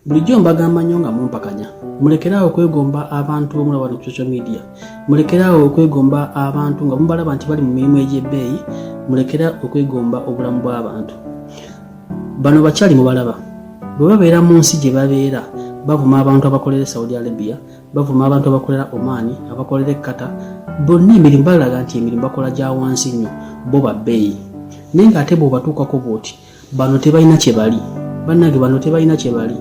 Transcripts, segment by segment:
bulijjo mbagamba nnyo nga mumpakanya mulekeraawo okwegomba abantu bamula bano ku social media mulekeraawo okwegomba abantu nga mubalaba nti bali mu mirimu egy'ebbeeyi mulekera okwegomba obulamu bw'abantu bano bakyali mubalaba bwe babeera mu nsi gye babeera bavuma abantu abakolera e saudi arabia bavuma abantu abakolera omaani abakolera ekkata bonna emirimu balaga nti emirimu bakola gya wansi nnyo bo babbeeyi naye ng'ate bw'obatuukako bw'oti bano tebalina kyebali bannange bano tebalina kyebali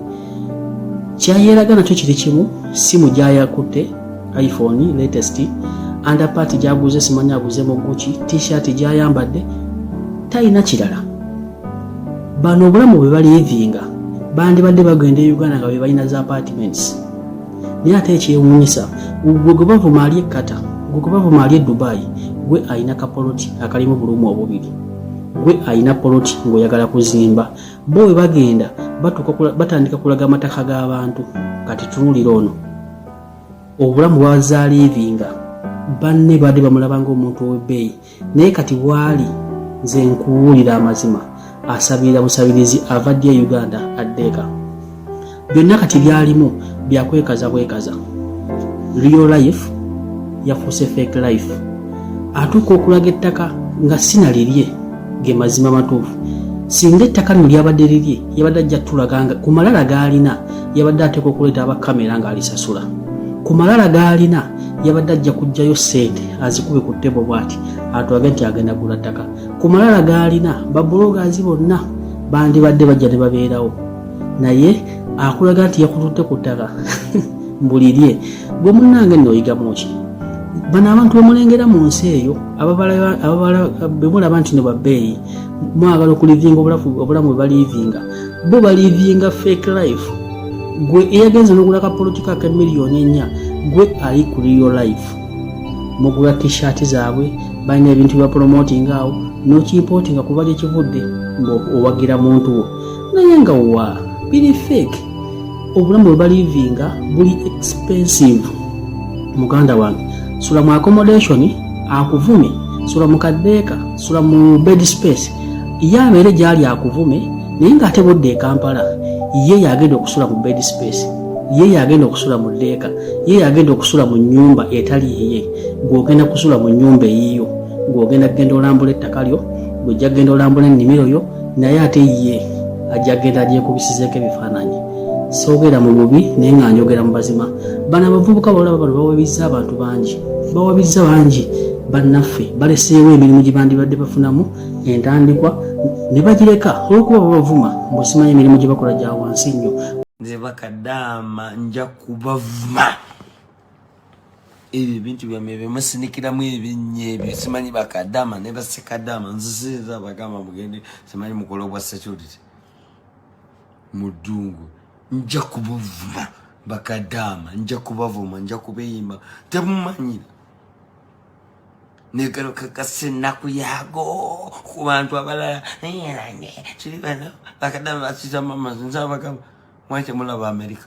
kyayeraga nakyo kiri kimu simu gyayakutte iphone latest underpart gyaguze simanya aguze mu guki t-shirt gyayambadde talina kirala bano obulamu bwe balivinga bandibadde bagenda e uganda nga bebalina za apartments naye ate ekyewunyisa gwe gwe bavuma ali ekkata gwe gwe bavuma ali e dubai gwe alina kapoloti akalimu bulumu obubiri gwe alina poloti ngaoyagala kuzimba bo we bagenda batandika kulaga amataka g'abantu kati tunulira ono obulamu bwazaaliivinga banne baadde bamulaba ngaomuntu ow'ebbeeyi naye kati waali nze nkuwulira amazima asabirira busabirizi avaddi e uganda addeeka byonna kati byalimu byakwekaza bwekaza real life yafuuse fake life atuuka okulaga ettaka nga sinalirye ge mazima matuufu singa ettaka lino lyabadde lirye yabadde ajja tulaga nga ku malala gaalina yabadde ateeka okuleeta aba kamera ng'alisasula ku malala gaalina yabadde ajja kujjayo ssente azikube ku ttebo bwati atwage nti agenda gula ttaka ku malala gaalina babulogazi bonna bandibadde bajja ne babeerawo naye akulaga nti yakututte ku ttaka mbulirye gwe munange nno oyigamuki bano abantu bemulengera mu nsi eyo bemulaba nti no babbeeyi mwagala okulivinga obulamu bwe balivinga bo balivinga fake life gwe eyagenze nogula kapolotika ke miliyoni ennya gwe ali ku real life mugula t-shirt zaabwe balina ebintu bya promoting awo nokimpootinga kuba gyekivudde ngaowagira muntu wo naye nga wa biri fake obulamu bwe balivinga buli expensive muganda wange sula mu accommodation akuvume sula mu kaddeeka sula mu bed space ye abeere gyali akuvume naye ng'ate bodda e kampala ye yagenda okusula mu bed space ye yagenda okusula mu ddeeka ye yagenda okusula mu nyumba etali eye gwogenda kusula mu nyumba eyiyo gwogenda kugenda olambula ettaka lyo gwejja kugenda olambula ennimiro yo naye ate ye ajja genda agyekubisizeko ebifaananyi soogera mu bubi naye nga njogera mu bazima bano abavubuka balaba bano bawabizza abantu bangi bawabizza bangi bannaffe baleseewo emirimu gye bandibadde bafunamu entandikwa ne bagireka olwokuba babavuma mbosimanyi emirimu gye bakola gya wansi nnyo nze bakadaama nja kubavuma ebyo ebintu byamwe byemusinikiramu ebinnye ebyo simanyi bakadama ne basekadama nzisinza bagamba mugende simanyi mukole obwa security mu ddungu nja kubuvuma bakadama nja kubavuma nja kubeyimba temumanyira negalo kakasa ennaku yaago ku bantu abalala kiri bano bakadama basitama mazinza bagamba mwakye mulaba amerika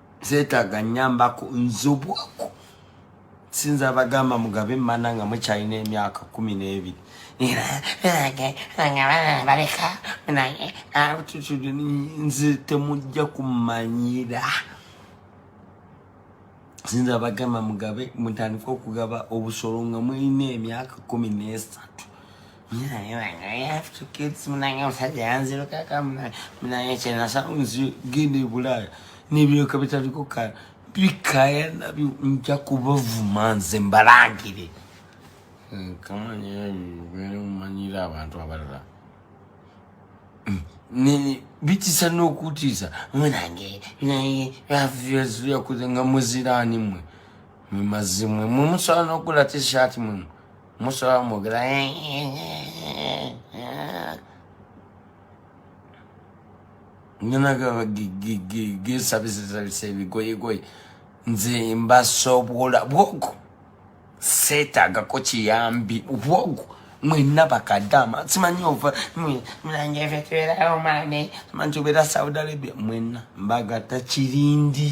zetaga nyambako nzobwako sinza abagamba mugabe mana nga mukyalina emyaka kumi n'ebiri baleka naye nze temujja kumanyira sinza abagamba mugabe mutandika okugaba obusolo nga mulina emyaka kumi n'esatu gende bulaya nebyoka bitaliko kala bikaya nabyo nja kubavuma nze mbalangire nkamanyira eh, abantu abalala bitisa n'okutiisa munange naye yakuze nga muziraani mwe mwe mazimwe mwe musobola n'okugula tishaati mwe Musa mwogera nyina gesabisesabisa ebigoyegoye nze mbasobola bwogo seetagako kiyambi bwogo mwena bakadama simanyi ova mulange efe tubeerawo maame simanyi tubeera saudi arabia mwena mbagata kirindi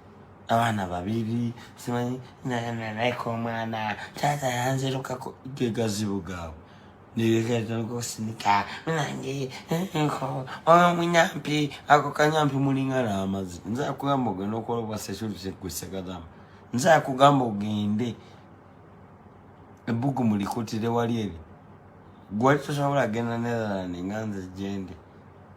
abaana babiri simanyi nayeko omwana taata yanzirukako gegazibu gaabwe nirekatankusinika nange nko omunyampi ako kanyampi mulinga n'amazi nze akugamba ogenda okola obwa security gwesekadamu nze akugamba ogende ebbugu mulikutire wali eri gwali tosobola genda netherland nga nze gyendi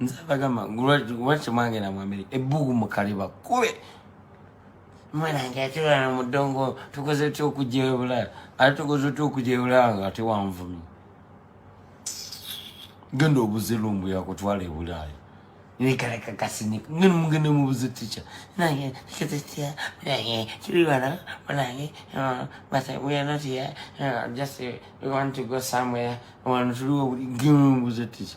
nze abagamba lwaki mwagenda mu amerika ebbugu mukaliba kube mwanange atulana mu ddongo tukoze ty okujja ebulaya ate tukoze ty okujja ebulaya nga ate wanvumi genda obuze lumbu yakutwala ebulaya nekarakakasinika ngani mugende mubuze ticha nange kitetia nange kibibana nange but we are not here uh, just uh, we want to go somewhere wantuliwo gemu mubuze ticha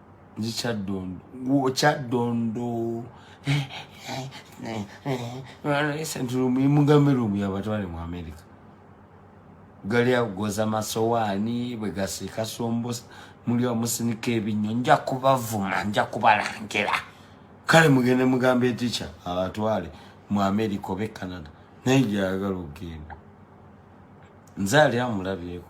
ndi kyaddondo gwokyaddondo mugambe lumu yabatwale mu amerika gali agoza masowaani bwe gasiika sombosa muli amusinika ebinnyo nja kubavuma nja kubalangira kale mugende mugambe etica abatwale mu amerika oba e canada naye gyayagala okugenda nze ali amulabyeko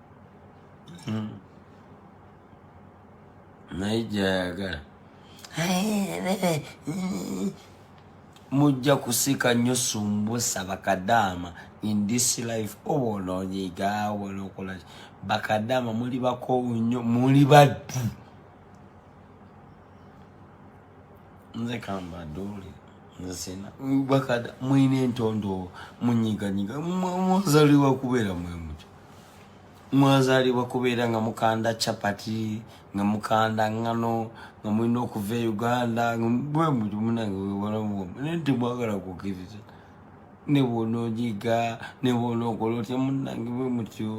hmm. naye gyayagala mujja kusika nnyo sumbusa bakadaama in this life oba ononyiga wala okola bakadaama muli bakoowu nnyo muli baddu nze kamba dole nze sina bakada mwine entondo munyiganyiga mwazaliwa kubeera mwemuti mwazalibwa kubeera nga mukanda chapati nga mukanda ngano nga mulina okuva e uganda bwemulimunangewebalamnti mwagala kukiriza nebwona ojiga nebwona okola otya munange bwe mutyo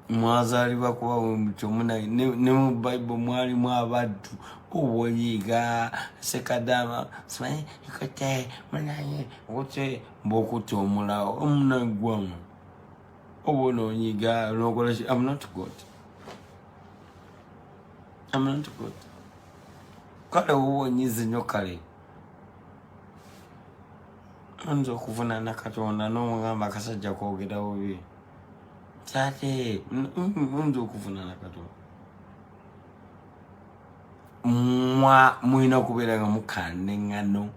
mwazalibwa kuba bwe mutyo munange ne mu bible mwalimu abaddu owoyiga sekadama simanyi ikote munange ote bwokutta omulawo omunaggwamu oba ononyiga nokola ki am not god am not god kale woba onyize nyo kale nza okuvunana katonda nomugamba akasajja kogera bubi tate nza okuvunana katonda mwa mulina kubeera nga mukandengano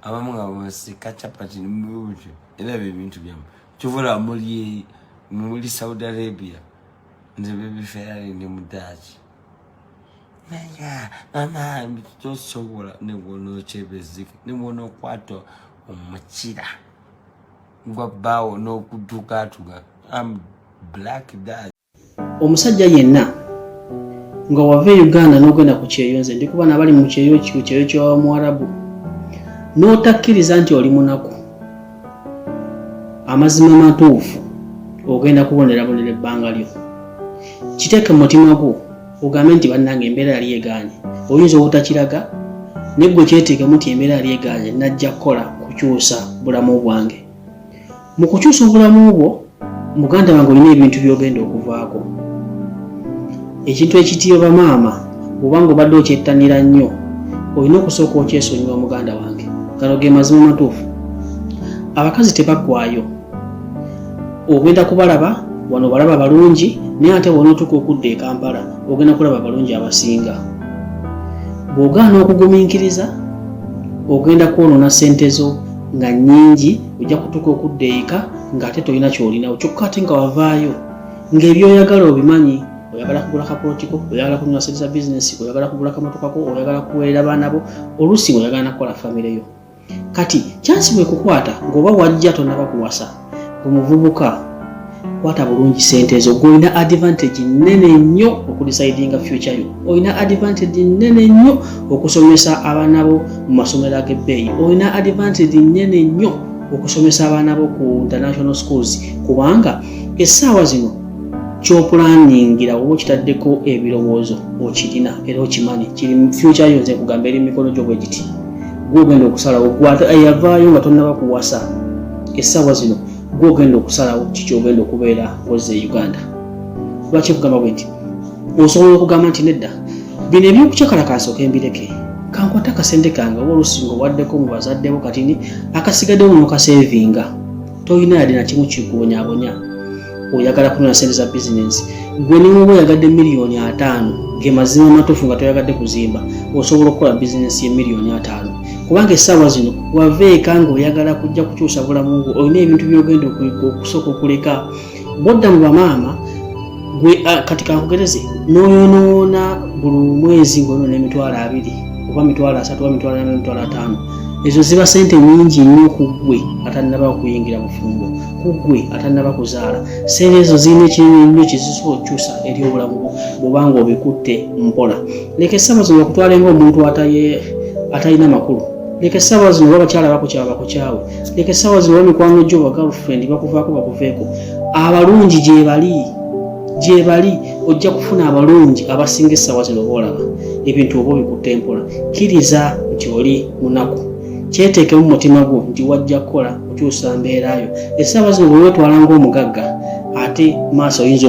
abamu nga basika chapati nimubuti era byo ebintu byamu kyovola muli muli saudi arabia nze bebiferali ne mudaaki naya mama tosobola nebwona okyebezike nebwona okwata omukira gwa bbaawo n'okutukatuka am black dad omusajja yenna nga wava e uganda n'ogenda ku kyeyo nze ndi kuba nabali mu kyeyo ku kyeyo kyamuwarabu n'otakkiriza nti oli munaku amazima matuufu ogenda kubonerabonera ebbanga lyo kiteeke mu mutima gwo ogambe nti bannange embeera yali egaanye oyinza obutakiraga naye gwe kyeteekemu nti embeera yali egaanye najja kukola kukyusa bulamu bwange mu kukyusa obulamu bwo muganda wange olina ebintu byogenda okuvaako ekintu ekitiyo bamaama obanga obadde okyettanira nnyo olina okusooka okyesonyiwa muganda wange gano ge mazima matuufu abakazi tebaggwayo ogenda kubalaba wano obalaba balungi naye ate wonootuuka okudda e kampala ogenda kulaba abalungi abasinga bw'ogaana okugumiikiriza ogenda kwonoona ssente zo nga nnyingi ojja kutuuka okudda eka ng'ate tolina kyolinawo kyokka ate nga wavaayo ng'ebyoyagala obimanyi oyagala kugula kakootiko oyagala kunywa sente za bizinesi oyagala kugula kamotokako oyagala kuweerera baana bo oluusi oyagala nakukola famire yo kati kyansi bwekukwata ng'oba wajja tonaba kuwasa omuvubuka kwata bulungi sente ezo gwe olina advantage nene nnyo okudecidinga future yo olina advantage nene nnyo okusomesa abaana bo mu masomero ag'ebbeeyi olina advantage nene nnyo okusomesa abaana bo ku international schools kubanga essaawa zino kyopulaningira oba okitaddeko ebirowoozo okirina era okimanyi kiri future yo nze kugamba eri mumikono gyo bwe giti gwe ogenda okusalawo gweyavaayo nga tonnaba kuwasa essaawa zino gwe ogenda okusalawo kiki ogenda okubeera koze e uganda kuba kyekugamba bwe nti osobola okugamba nti nedda bino ebyokucakalakaasa okembireke kankwata akasente kange oba olusinga owaddeko mu bazaddebo kati ni akasigaddewo nokasevinga tolina yadde nakimu kikubonyabonya oyagala kunona sente za bizinensi gwe niwoba oyagadde miliyoni ataano ge mazima amatuufu nga toyagadde kuzimba osobola okukola bizinensi ye miliyoni ataano kubanga essaawa zino wava eka ng'oyagala kujja kukyusa bulamu bwo olina ebintu byogenda okusooka okuleka bodda mu bamaama gwe ah, kati kankugereze n'oyonoona buli mwezi ng'onoona emitwalo abiri oba mitwalo asatu oba mitwalo ana mitwalo ataano ezo ziba sente nyingi nnyo ku ggwe atannaba okuyingira bufumbo ku ggwe atannaba kuzaala sente ezo zirina ekinene nnyo kizisobola okukyusa eri obulamu bwo bwobanga obikutte mpola leka essaawa zino bakutwale ng'omuntu atalina makulu leka essaawa zino oba bakyala bakukyawa bakukyawe leka essaawa zino oba mikwano gyo ba girlfriend bakuvaako bakuveeko abalungi gyebali gyebali ojja kufuna abalungi abasinga essaawa zino boolaba ebintu oba obikutte mpola kkiriza nti oli munaku kyeteekemu mu mutima gwo nti wajja kukola okyusa mbeera yo essaawa zino bwe weetwala ng'omugagga ate maaso oyinza